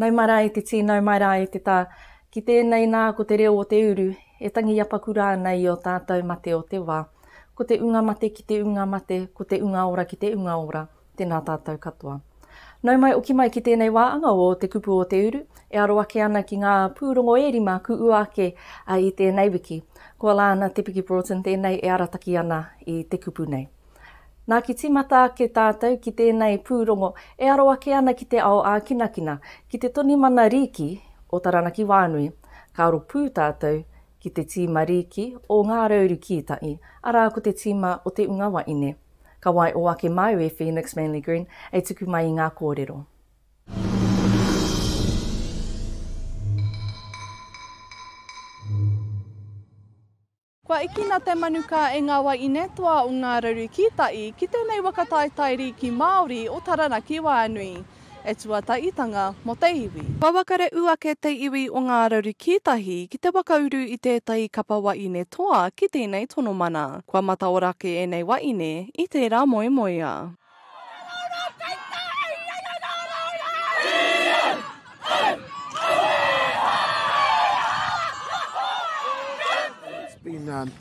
Nau mai rā e te tī, nau mai rā e te tā, ki tēnei nā ko te reo o te uru, e tangi apakura ana i ō tātou mate o te wā. Ko te unga mate ki te unga mate, ko te unga ora ki te unga ora. Tēnā tātou katoa. Nau mai oki mai ki tēnei wā anga o Te Kupu o Te Uru, e aro ake ana ki ngā pūrongo e rima ku ua ake i tēnei wiki. Ko Lana Te Piki Broughton tēnei e arataki ana i te kupu nei. Nā ki tīmata ake tātou ki tēnei pūrongo e aro ake ana ki te ao ākinakina, ki te toni mana rīki o Taranaki wānui, ka aro pū tātou ki te tīma rīki o Ngā Rauru Kītahi, arā ko te tīma o Te Unga Waine. Ka wai o ake māu e Phoenix Manly Green e tuku mai i ngā kōrero. Kua ekina te manukā e ngā waiine toa o Ngā Raru Kītai ki tēnei waka taetae rīki Māori o Taranaki Wānui. e tuataitanga mo te iwi. Wawakare u ake te iwi o Nga Raru Kiitahi ki te wakauru i tetahi kapa waine toa ki tenei tono mana. Kua mataora ake enei waine i tera moemoea.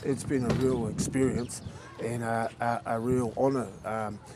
It's been a real experience and a real honour.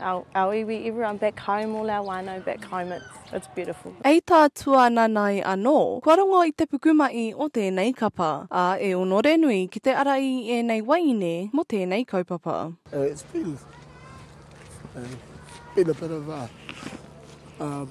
Our, our iwi, everyone back home, all our whānau back home, it's, it's beautiful. Hei tā Tuananae anō, kua rongo i te pukumahi o tēnei kapa, ā, e onore nui ki te ara i ēnei waeine mō tēnei kaupapa. Uh, it's been, uh, been a bit of a, um,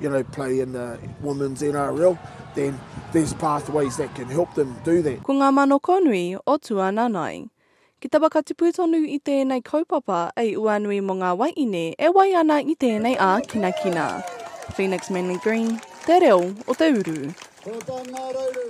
you know, play in the women's NRL, then there's pathways that can help them do that. Ko ngā manoko nui o Tuananai. Ki te whakatipu tonu i tēnei kaupapa ei uanui mō ngā waiine e wai ana i tēnei ākinakina. Phoenix Manly Green, Te Reo o te Uru. Ko tā ngā rauru.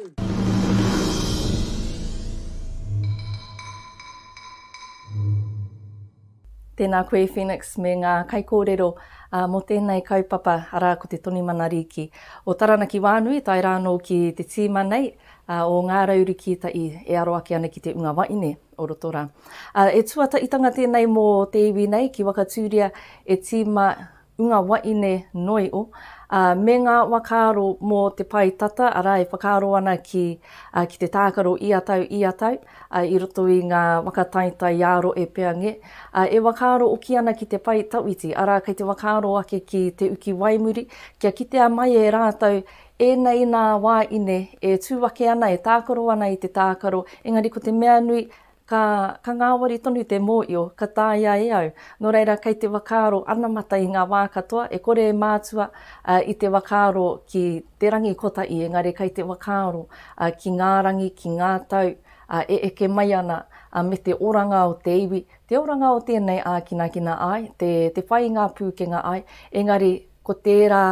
Tēnā koe Phoenix me ngā kaikōrero mō tēnei kaupapa arā ko te Toni Mana Rīki o Taranaki Wānui tae rā anō ki te tīma nei o Ngā Rau Rikītaʻi e aro ake ana ki te Unga Waine o roto rā. E tuataʻitanga tēnei mō te iwi nei ki Wakatūria e tīma o ngā waeine noio, ā, me ngā whakaaro mō te pae tata, arā, e whakaaro ana ki, ā, ki te tākaro ia tau, ia tau, ā, i roto i ngā whakataetae ā-rohe e pea ngē, ā, e whakaaro oki ana ki te pae tawhiti, arā, kei te whakaaro ake ki te uki waimuri, kia kitea mai e rātou ēnei nā waeine e tū ake ana, e tākaro ana i te tākaro, engari ko te mea nui, Ka, ka ngāwari tonu te mōio, ka tāia e au. Nō reira, kei te whakaaro anamata i ngā wā katoa, e kore e mātua i te whakaaro ki te rangi kotahi, engari kei te whakaaro ki ngā rangi, ki ngā tau e eke mai ana, me te oranga o te iwi, te oranga o tēnei ākinakina ai, te, te whai i ngā pūkenga ai, engari Ko tērā,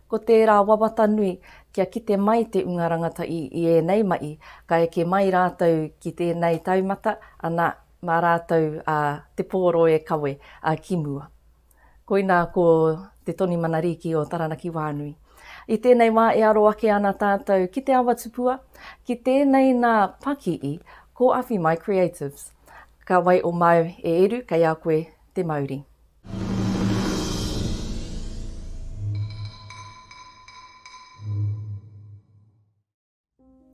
ko tērā wawata nui kia kite mai te Unga Rangatahi i ēnei mahi, ka eke mai rātou ki tēnei taumata, ana, mā rātou a Te Pōro e kawe, a ki mua. Koinā ko Te Toni Manarīki o Taranaki Whānui. I tēnei wā e aro ake ana tātou ki Te Awa Tupua, ki tēnei nā Pakii, ko Awhi Mai Creatives. Ka wai o māu e eru kei a koe te mauri.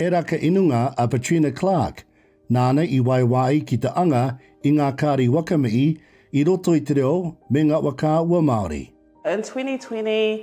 Era ka inunga a Patrina Clark, nāna i waewa ai ki te anga i ngā kāri waka mihi i roto i te reo me ngā waka ua Māori. In 2020,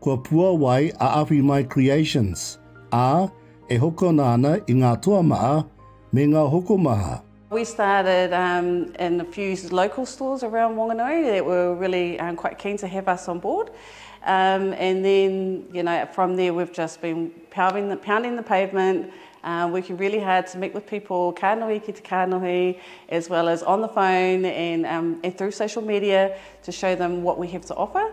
Kua puawai a Awhi Mai Creations, ā, e hokona ana i ngā toa maha me ngā hokomaha. We started in a few local stores around Whanganui that were really quite keen to have us on board and then you know from there we've just been pounding the pavement, working really hard to meet with people ka nohi ki te kanohi as well as on the phone and through social media to show them what we have to offer.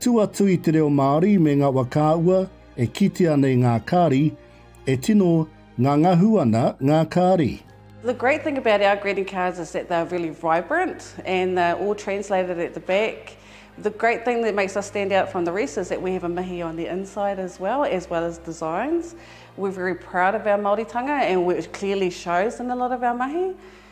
Tū atu i te reo Māori me ngā wa kāua e kitea nei ngā kāri, e tino ngangahu ana ngā kāri. The great thing about our greeting cards is that they are really vibrant and they are all translated at the back. The great thing that makes us stand out from the rest is that we have a mihi on the inside as well, as well as designs. We're very proud of our Māoritanga and it clearly shows in a lot of our mahi.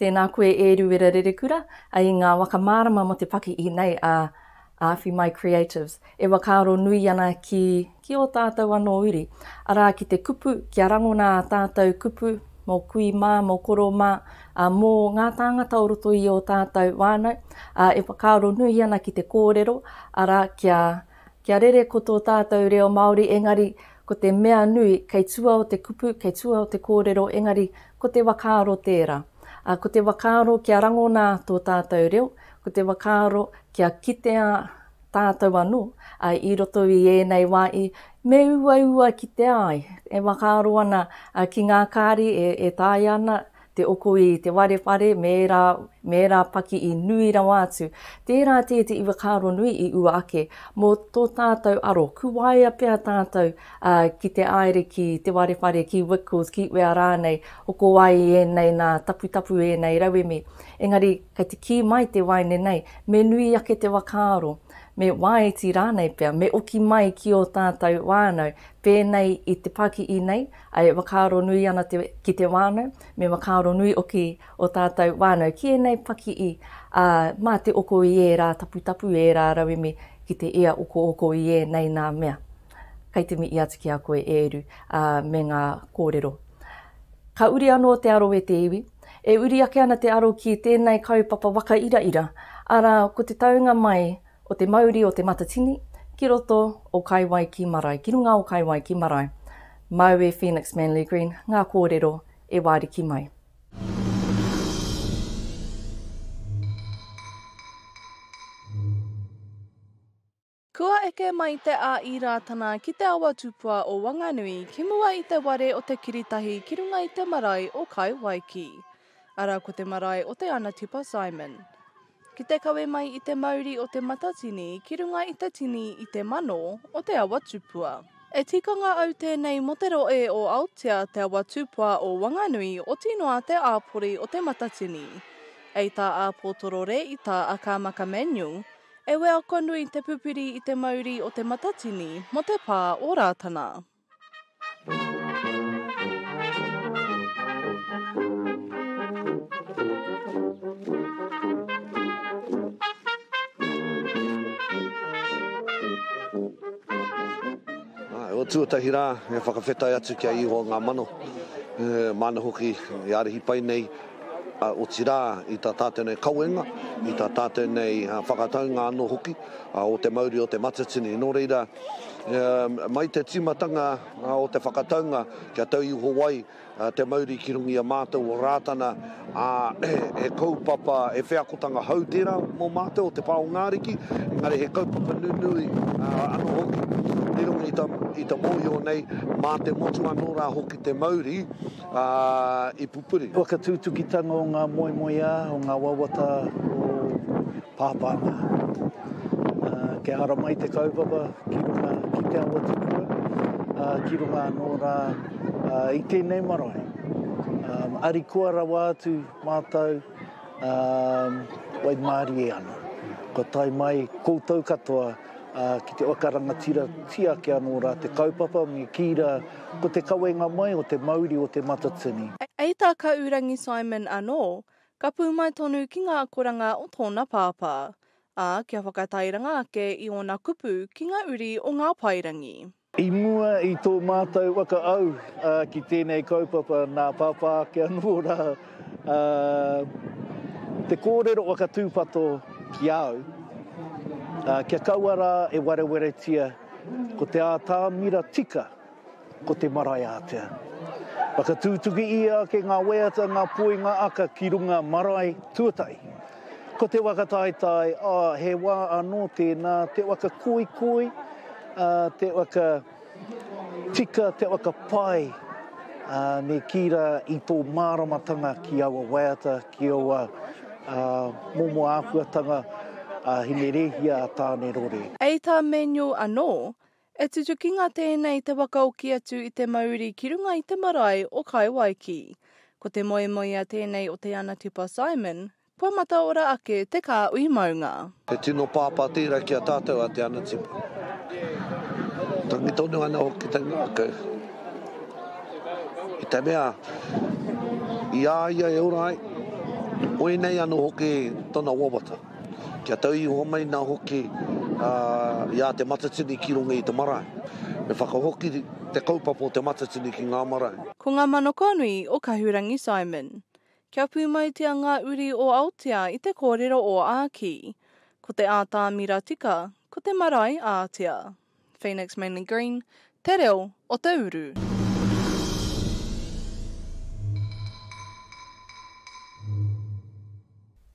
Tēnā koe e Ruera Rerekura, i ngā waka mārama mō te paki i nei a Awhi Mai Creatives, e whakaaro nui ana ki ki ō tātou anō uri, arā ki te kupu kia rangona ā tātou kupu mō kui mā, mō koro mā, ā, mō ngā tāngata o roto i ō tātou whānau, ā, e whakaaro nui ana ki te kōrero, arā, kia, kia rere ko tō tātou reo Māori engari Ko te mea nui, kei tua o te kupu, kei tua o te kōrero, engari, ko te whakaaro tērā. Ā, ko te whakaaro kia rangona tō tātou reo, ko te whakaaro kia kitea tātou anō, ā, i roto i ēnei wā i, me uaua kitea ai, e whakaaro ana ki ngā kāri e, e taea ana, te oko i te ware whare me ērā, me ērā paki i nui rawa atu. Tērā tē te iwakāronui i ua ake, mō tō tātou aro, kuwaea pea tātou ā, ki te āere ki te ware whare, ki Wickles, ki wea rānei, oko ai i ēnei nā, taputapu ēnei rauemi. Engari, kei te kī mai te waeine nei, me nui ake te wakaaro, me wāiti rānei pea, me oki mai ki ō tātou whānau, pēnei i te pāki'i nei, E whakaaro nui ana te, ki te wānau, me whakaaro nui oki o tātou wānau ki ēnei pakihi, ā, mā te oko i ērā taputapu, ērā rauemi ki te ia okooko i ēnei nā mea. Kei te mihi atu ki a koe e Eru, ā, me ngā kōrero. Ka uri anō te aro e te iwi. E uri ake ana te aro ki tēnei kaupapa waka iraira, arā, ko te taunga mai, o te mauri o Te Matatini ki roto o Kaiwai ki Marae, ki runga o Kaiwai ki Marae, māu e Phoenix Manley Green ngā kōrero e wāriki mai. Kua eke mai te ā-Īrātana ki te awa tupua o Wanganui ki mua i te ware o te kiritahi ki runga i te marae o Kaiwaiki. Ara ko te marae o Te Anatipa Simon. Ki te kawe mai i te mauri o te matatini ki runga i te tini i te mano o te awa tupua. E tikanga au tēnei mo te roe o Aotea te awa tupua o Wanganui oti noa te āpori o te matatini. Ei tā a Potorore i tā a Kāmaka Manuel, e weako nui te pupiri i te mauri o te matatini mo te pā o Rātana. tuatahi rā, e whakawhetai atu ki a Ihoa ngā mano, e, māna hoki i ārahi pai nei, ā, otirā, i tā tātou nei kawenga, i tā tātou nei whakataunga anō hoki o te mauri o Te Matatini. Nō reira, mai te tīmatanga o te whakataunga, kia tau iho ai te mauri ki runga i a mātou o Rātana, ā, he kaupapa, he wheakotanga hou tērā mō mātou o te pā o ngā ariki, engari he kaupapa nunui anō hoki i runga i te mōhio nei, mā te motu anō rā hoki te mauri. ā, i pupuri. Whakatutukitanga o ngā moemoeā, o ngā wawata o Pāpā mā. Ā, kia haramai te kaupapa ki runga ki te awa tipua, ā, ki runga anō rā, ā, i tēnei marae. Ā, arikoa rawa atu mātou, ā, waimarie ana. Kua tae mai koutou katoa, ā, ki te whakarangatiratia ake anō rā te kaupapa, me kī rā, Ko te kawenga mai o te mauri o Te Matatini. Hei tā Kaurangi Simon anō, ka pūmai tonu ki ngā akoranga o tōna pāpā, ā, kia whakatairanga ake i ōna kupu ki ngā uri o ngā paerangi. I mua i tō mātou whakaau ki tēnei kaupapa nā Pāpā ake anō rā te kōrero whakatūpato ki a au, kia kaua rā e warewaretia. Ko te ātamira tika, ko te marae ātea. Whakatūtuki ia ake ngā waiata, ngā poi, ngā aka ki runga marae tuatahi. Ko te waka taetae, ā, he wā anō tēnā, te waka koikoi, ā, te waka tika, te waka pai, ā, me kī rā i tō māramatanga ki aua waiata, Ki aua momo āhuatanga a Hinerēhia a Tānerore. Hei tā Manuel anō, E tutukinga tēnei te wakaoki atu i te mauri ki runga i te marae o Kaewaiki. Ko te moemoea tēnei o Te Anatipa Simon, kua mataora ake te kāhui maunga. He tino pāpā tērā ki a tātou a Te Anatipa. Tangi tonu ana hoki te ngākau. I te mea, i a ia e ora ai, oi nei anō hoki tona wawata. Kia tau iho mai nā hoki i a Te Matatini ki runga i te marae. Me whakahoki te kaupapa o Te Matatini ki ngā marae. Ko ngā mano kōnui o Kahurangi Simon. Kia pūmautia ngā uri o Aotea i te kōrero o Āki. Ko te ātamira tika, ko te marae ātea. Phoenix Manly Green, Te Reo o te Uru.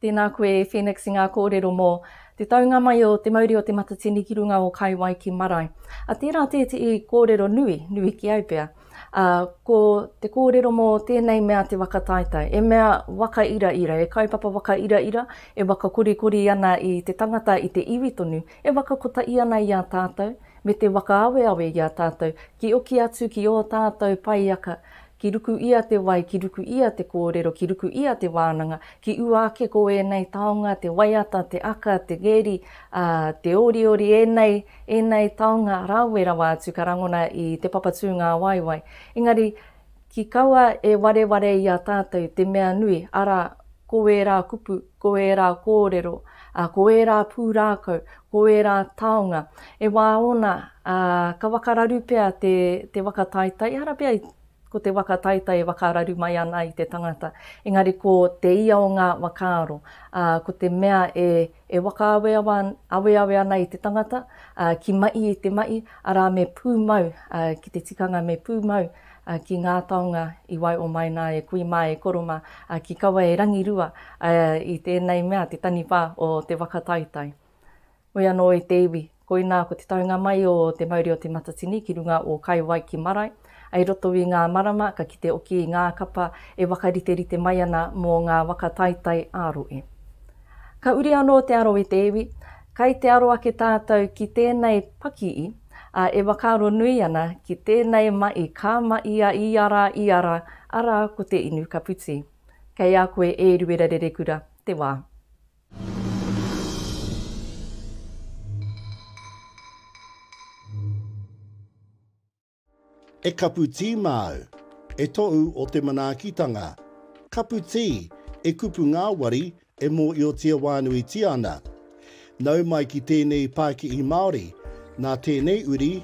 Tēnā koe Phoenix i ngā kōrero mō Te taunga mai o Te Mauri o Te Matatini ki runga o Kaiwaiki marae. A tērā tētehi kōrero nui, nui ki au pea. Ā, ko te kōrero mō tēnei mea te waka taetae, e mea waka iraira, e kaupapa waka iraira, e waka korikori ana i te tangata, i te iwi tonu, e waka kotahi ana i a tātou, me te waka aweawe i a tātou, ki oki atu ki ō tātou paiaka, ki ruku ia te wai, ki ruku ia te kōrero, ki ruku ia te wānanga, Ki ua ake ko ēnei taonga, te waiata, te aka, te geri, ā, te oriori, ēnei, ēnei taonga rawe rawa atu ka rangona i Te Papa Tūngāwaiwai. Engari, ki kaua e wareware i a tātou te mea nui, arā, ko ērā kupu, ko ērā kōrero, ā, ko ērā pūrākau, ko ērā taonga, e wā ōna, ā, ka wakararu pea te, te waka taetae, ehara pea i. Ko te waka taitai e whakararu mai ana i te tangata, engari ko te ia o ngā whakaaro, ā, ko te mea e, e whakaaweawe ana i te tangata, ā, ki mahi i te mahi, arā, me pūmau, ā, ki te tikanga me pūmau, ā, ki ngā taonga i wae o mai nā e kui mā e koro mā, ā, ki kaua e rangirua, ā, i tēnei mea te taniwha o te waka taitai. Hoi anō i te iwi, koinā ko te taunga mai o te mauri o Te Matatini ki runga o Kaiwai ki Marae, ai roto i ngā marama ka kite oki i ngā kapa e wakariterite mai ana mō ngā waka taitai ā-rohe. Ka uri anō te aro i te iwi, kai te aro ake tātou ki tēnei pakii, ā, e whakaaro nui ana ki tēnei maʻi ka maʻi a ia rā ia rā, arā ko te inu ka puti. Kei a koe e Ruera Rerekura te wā. E kapu tī māu, e tōu o te manaakitanga. Kapu tī, e kupu ngāwari, e mōiotia wānuitia ana. Nau mai ki tēnei pākihi Māori, nā tēnei uri,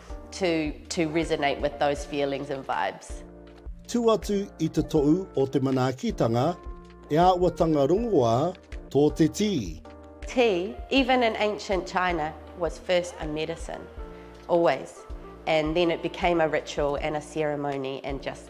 to to resonate with those feelings and vibes. Tū atu i te tohu o te manaakitanga, e āuatanga rongoā tō te tī. Tī, even in ancient China, was first a medicine, always, and then it became a ritual and a ceremony and just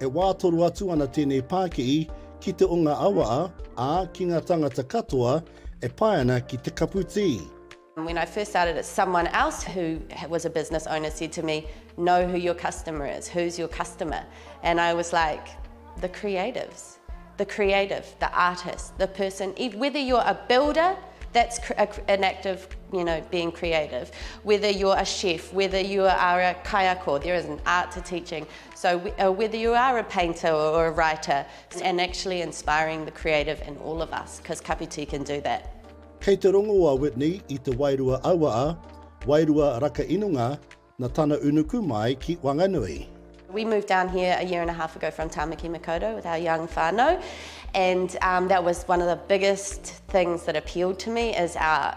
E wā toro atu ana tēnei pākihi ki te o ngā awaa, ā, ki ngā tāngata katoa e pae ana ki te kapu tī. When I first started it someone else who was a business owner said to me, know who your customer is, who's your customer? And I was like, the creatives, the creative, the artist, the person, whether you're a builder that's an act of you know being creative, whether you're a chef, whether you are a kaiako, there is an art to teaching, So whether you are a painter or a writer and actually inspiring the creative in all of us because Kapiti can do that. Kei te rongo a Whitney i te wairua auaa, wairua raka inunga, na tana unuku mai ki Wanganui. We moved down here a year and a half ago from Tamaki Makaurau with our young whanau and that was one of the biggest things that appealed to me is our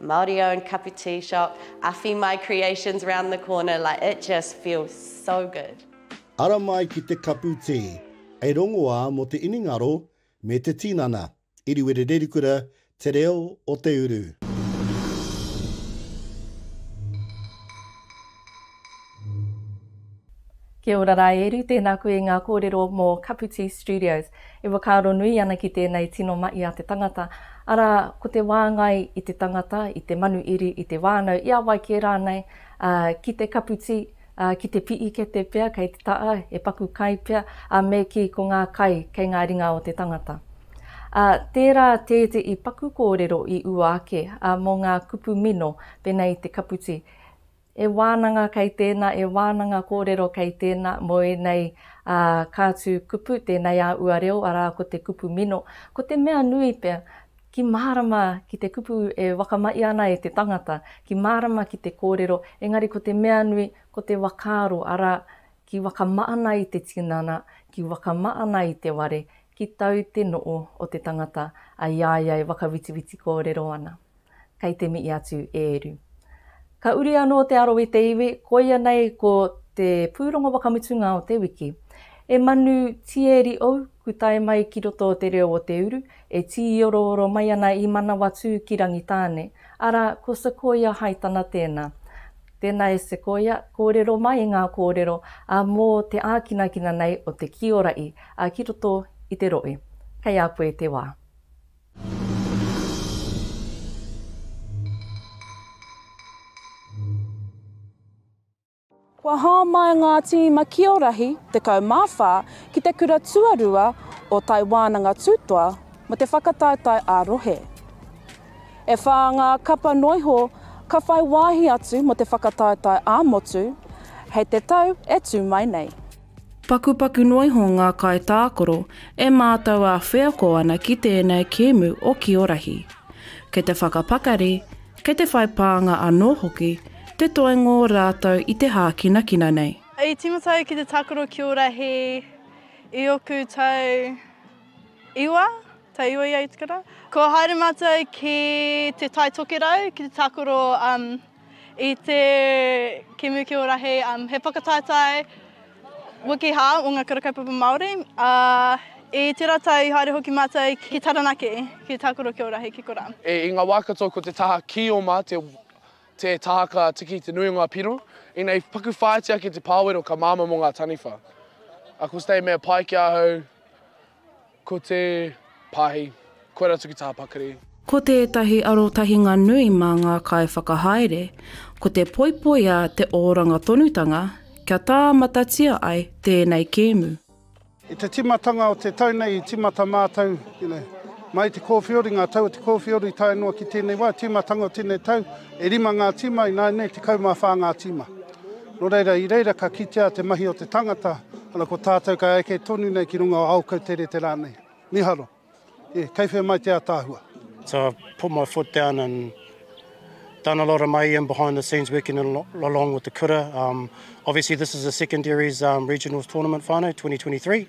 Māori owned cup of tea shop, awhi mai creations round the corner, like it just feels so good. Ara mai ki te kapu tē, hei rongoā mō te iningaro me te tinana. Iriwiri Rerikura, Te Reo o te Uru. Kia ora rā e Eru, tēnā koe i ngā kōrero mō Kaputī Studios. E whakaaro nui ana ki tēnei tino mahi a te tangata, arā, ko te wāngai i te tangata, i te manu iri, i te whānau, i a wai kē rānei, ā, ki te kaputī, ā, ki te piikete pea kei te taha, he paku kai pea, ā, me kī ko ngā kai kei ngā ringa o te tangata. Ā, tērā tētehi paku kōrero i ua ake, ā, mō ngā kupu mino pēnei i te kaputī. E wānanga kei tēnā, e wānanga kōrero kei tēnā mō ēnei kātū kupu, tēnei a ua reo, arā ko te kupu mino. Ko te mea nui pea, ki mārama ki te kupu e whakamaia ana e te tangata, ki mārama ki te kōrero, engari ko te mea nui, ko te whakaaro, arā, ki whakamaana i te tinana, ki whakamaana i te ware, ki tau te noo o te tangata, a i a ia e whakawitiwiti kōrero ana. kei te mihi atu e Eru. Ka uri anō te aro i te iwi, koia nei ko te pūrongo wakamutunga o te wiki. E manu tieri ou, ku tae mai ki roto o te reo o te uru, e tīorooro mai ana i Manawatū ki Rangitāne, arā, ko Sequoia Haitana tēnā. Tēnā e Sequoia, kōrero mai ngā kōrero a mō te ākinakina nei o te kiora'i a ki roto i te rohe. Kei a koe te wā. Kua hāmai ngā tīma kiorahi 14 ki te kura tuarua o Tai Wānanga Tūtoa mō te whakataetae ā-rohe. E whā ngā kapa noiho ka whai wāhi atu mō te whakataetae ā-motu hei te tau e tū mai nei. Pakupaku noa iho ngā kaitākaro e mātau ā-wheako ana ki tēnei kēmu o Ki o Rahi. Kei te whakapakari, kei te whai pānga anō hoki te toenga o rātau i te hākinakina nei. I tīmata au ki te tākaro Ki o Rahi i ōku tau iwa, tau iwa ia i te kura. Kua haere mātau ki Te Tai Tokerau ki te tākaro I te Kemu ki o Rahi, um, he whakataetae wiki hā o ngā kura kaupapa Māori. Ā, i tērā tau i haere hoki mātou ki Taranaki, ki Tākoro ki o Rahi, ki Kura. E, i ngā wā katoa ko te taha kīoma te, te taha ka tiki te nui o ngā piro. Ina i paku whāiti ake te pāwero ka māmā mō ngā taniwha. Ako stay mea pai ki ahau. Ko te pahi, koir atu ki taha pakari. Ko tētahi arotahinga nui mā ngā kaiwhakahaere, ko te poipoi a te oranga tonutanga kia tāmatatia ai tēnei kēmu. I te timatanga o te tau nei i timata mātou, mai te kōwhiori, ngā tau o te kōwhiori tae noa ki tēnei wā, timatanga o tēnei tau, e rima ngā tima, ināianei tekau mā whā ngā tima. Nō reira, i reira ka kitea te mahi o te tangata, ana ko tātou ka eke tonu nei ki runga o Aokauterete rānei. Miharo. E, kei whea mai te ataahua? So I've put my foot down and done a lot of mai in behind the scenes working along with the kura. Um, obviously this is a secondaries um, regionals tournament whānau 2023.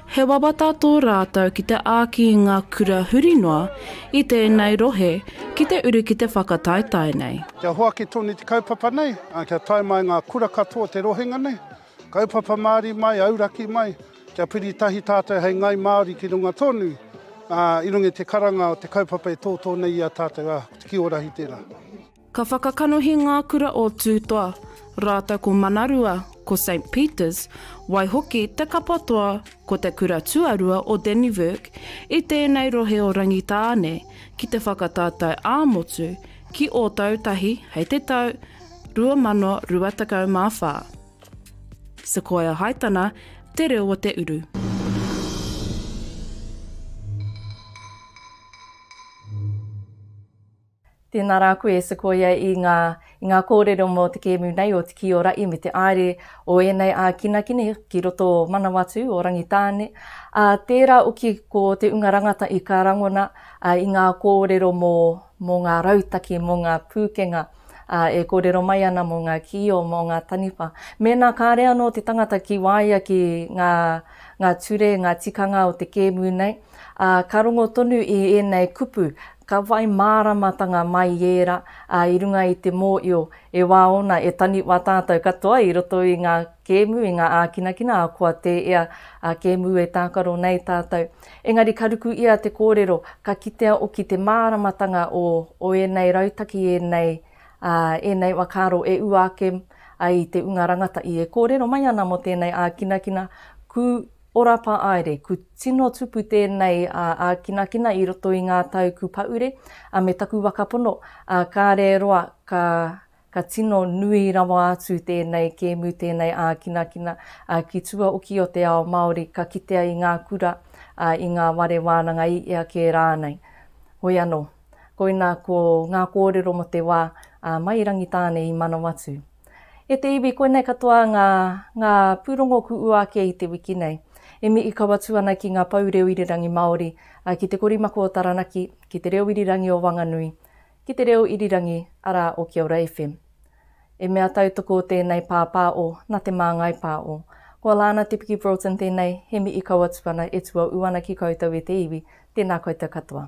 He wawata tō rātou ki te āki i ngā kura huri noa i tēnei rohe ki te uru ki te whakataetae nei. Kia hoaki tonu te kaupapa nei, ā, kia tae mai ngā kura katoa o te rohenga nei, kaupapa Māori mai, auraki mai, kia piri tahi tātou hei ngai Māori ki runga tonu, ā, i runga i te karanga o te kaupapa e tōtō nei i a tātou, ā, ko te ki-o-rahi tērā. Ka whakakanohi ngā kura o Tūtoa rātou ko Manarua, ko Saint Peters, waihoki te kapa toa ko te kura tuarua o Dannevirke i tēnei rohe o Rangitāne ki te whakatatau ā-motu ki Ōtautahi hei te tau 2024. Sequoia Haitana, Te Reo o te Uru. Tēnā rā koe e Sequoia i ngā i ngā kōrero mō te kēmu nei o Te Kī o Raʻi me te āere o ēnei ākinakina ki roto o Manawatū, o Rangitāne, ā, tērā oki ko te unga rangata i ka rangona i ngā kōrero mō mō ngā rautaki, mō ngā pūkenga e kōrero mai ana mō ngā kīo, mō ngā taniwha. Mēnā kāre anō te tangata ki waia ki ngā ngā ture, ngā tikanga o te kēmu nei, ā, ka rongo tonu i ēnei kupu, ka whai māramatanga mai i ērā, ā, i runga i te mōio, e wā ōna e taniwha tātou katoa i roto i ngā kēmu, i ngā ākinakina, ahakoa tē ea a kēmu e tākaro nei tātou. Engari ka ruku ia te kōrero, ka kitea oki te māramatanga o, o ēnei rautaki, ēnei, ā, ēnei whakaaro e ua ake ai i te unga rangatahi e kōrero mai ana mō tēnei ākinakina, kū, Ora Pāere, ku tino tupu tēnei a ākinakina i roto i ngā tau ku pahure a me taku waka pono, a kāre roa ka ka tino nui rawa atu tēnei kēmu tēnei ākinakina a ki tua oki o te ao Māori ka kitea i ngā kura a i ngā ware wānanga i ea kē rānei. Hoi anō. Koina ko ngā kōrero mō te wā a Mai Rangitāne i Manawatū. E te iwi, koinei katoa ngā, ngā pūrongo ku ua ake i te wiki nei. E mi ikawa tu ana ki ngā pou reo irirangi Māori, ki te korimako o Taranaki, ki te reo irirangi o Wanganui, ki te reo irirangi arā o Kia Ora FM. E mea tautoko o tēnei pāpāo na te māngai pāo. Ko Alana Te Piki Broughton tēnei, he mi ikawa tu ana e tuaū ana ki koutou e te iwi, tēnā koutou katoa.